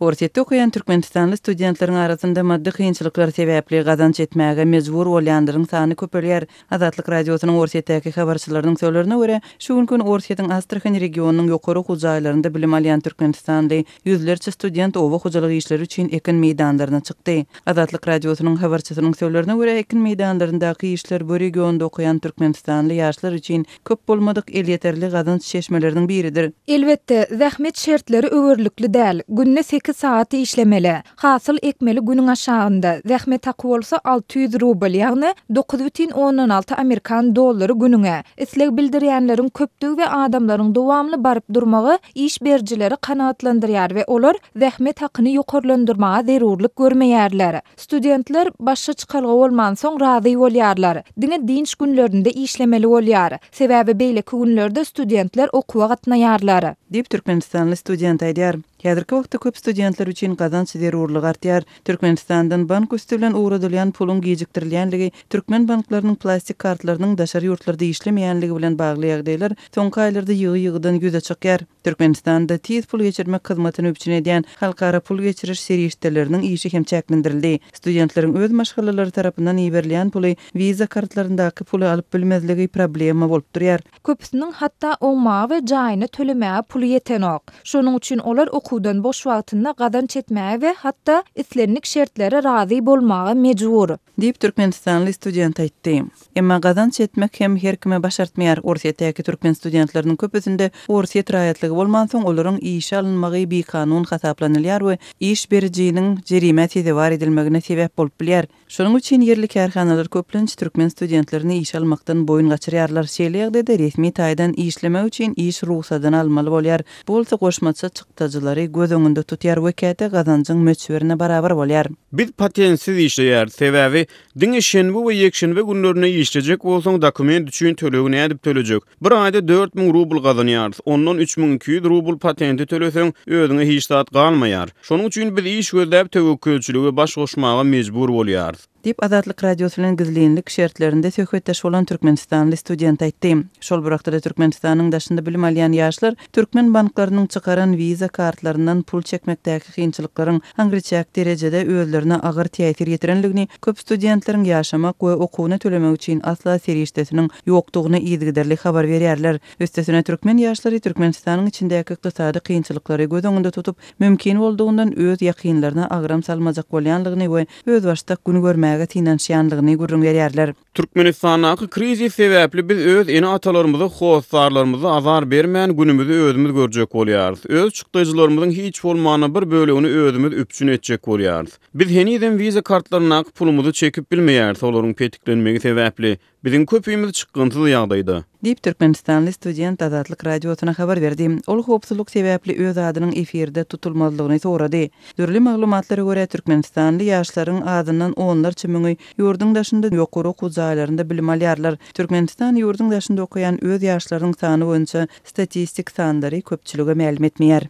Orsýetde okaýan türkmenistanly studentleriň arasynda maddy kynçylyklar sebäpli gazanç etmäge mejbur bolýanlaryň sany köpelýär. Azatlyk Radiosynyň Orsýetdäki habarçylarynyň sölerine görä, şu günki gün Orsýetiň Astrahan regionynyň ýokary okuw jaýlarynda bilim alýan türkmenistanly ýüzlerçe student oba hojalyk işleri üçin ekin meýdanlaryna çykdy. Azatlyk Radiosynyň habarçysynyň sölerine görä, ekin meýdanlaryndaky işler bu regionda okaýan türkmenistanly ýaşlar üçin köp bolmadyk elýeterli gazanç çeşmeleriniň biridir. Elbetde, zähmet şertleri öwerlikli däl, günde sekiz sagat işlemeli, hasyl ekmeli günüň aşagynda, zähmet haky bolsa alty ýüz rubl, ýagny dokuz bütin ondan alty amerikan dollary günüňe. Isleg bildirýänleriň köpdügi we adamlaryň dowamly baryp durmagy iş berijileri kanagatlandyrýar we olar zähmet hakyny ýokarlandyrmaga zerurlyk görmeýärler. Studentler başga çykalga bolmansoň razy bolýarlar. Diňe dynç günlerinde işlemeli bolýar. Sebäbi beýleki günlerde studentler okuwa gatnaýarlar. Diýip, türkmenistanly student aýdýar. Häzirki wagtda köp studentler üçin gazanç zerurlygy artýar. Türkmenistandan bank üsti bilen ugradylýan puluň gijikdirilýänligi, türkmen banklarynyň plastik kartlarynyň daşary ýurtlarda işlemeýänligi bilen bagly ýagdaýlar soňky aýlarda ýygy-ýygydan ýüze çykýar. Türkmenistanda tiz pul geçirmek hyzmatyny üpjün edýän halkara pul geçiriş serişdeleriniň işi hem çäklendirildi. Studentleriň öz maşgalalary tarapyndan iberilýän puly Visa kartlaryndaky puly alyp bilmezligi problema bolup durýar. Köpüsiniň hatda oňmaga we jaýyny tölemäge puly ýetenok. Şonuň üçin olar okuwdan boş wagtynda gazanç etmäge we hatda islendik şertlere razy bolmaga mejbur. Diýip, türkmenistanly student aýtdy. Emma gazanç etmek hem her kime başartmaýar. Orsýetdäki türkmen studentleriniň köpüsinde orsýet raýatlygy bolmansoň, olaryň işe alynmagy bikanun hasaplanylýar we iş berijiniň jerimä sezewar edilmegine sebäp bolup bilýär. Şonuň üçin ýerli kärhanalar köplenç türkmen studentlerini işe almakdan boýun gaçyrýarlar. Şeýle ýagdaýda resmi taýdan işlemek üçin iş rugsadyny almaly bolýar. Bu bolsa goşmaça çykdajylary göz öňünde tutýar we käte gazanjyň möçberine barabar bolýar. Biz patentsiz işleýäris, sebäbi Diňe şenbe we ýekşenbe günlerine işlejek bolsaň dokument üçin tölegi nädip tölejek? Bir aýda dört müň rubl gazanýarys, ondan üç müň iki ýüz rubl patente töleseň özüňe hiç zat galmaýar. Şonuň üçin biz iş gözläp töwekgelçilige baş goşmaga mejbur bolýarys. Diýip, Azatlyk Radiosy bilen gizlinlik şertlerinde söhbetdeş bolan türkmenistanly student aýtdy. Şol bir wagtda-da Türkmenistanyň daşynda bilim alýan ýaşlar Türkmen banklarynyň çykaran Visa kartlaryndan pul çekmekdäki kynçylyklaryň aňryçäk derejede özlerine agyr täsir ýetirendigini, köp studentleriň ýaşamak we okuwyna tölemek üçin asla serişdesiniň ýokdugyny yzygiderli habar berýärler. Üstesine, türkmen ýaşlary Türkmenistanyň içindäki ykdysady kynçylyklary göz öňünde tutup, mümkin boldugyndan öz ýakynlaryna agram salmajak bolýanlygyny we özbaşdak gün görmäge synanyşýanlygyny gürrüň berýärler. Türkmenistandaky krizis sebäpli biz öz ene-atalarymyza, hossarlarymyza azar bermän, günümizi özümiz görjek bolýarys. Öz çykdajylarymyzyň hiç bolmanda bir bölegini özümiz üpjün etjek bolýarys. Biz henizem wiza kartlaryndaky pulumyzy çekip bilmeýäris, olaryň petiklenmegi sebäpli, biziň köpimiz çykgynsyz ýagdaýda. Diýip, türkmenistanly student Azatlyk Radiosyna habar berdi. Ol howpsuzlyk sebäpli öz adynyň efirde tutulmazlygyny sorady. Dürli maglumatlara görä, türkmenistanly ýaşlaryň azyndan onlarça müňi Ýurduň daşynda ýokary okuw jaýlarynda bilim alýarlar. Türkmenistan ýurduň daşynda okaýan öz ýaşlarynyň sany boýunça statistik sanlary köpçülige mälim etmeýär.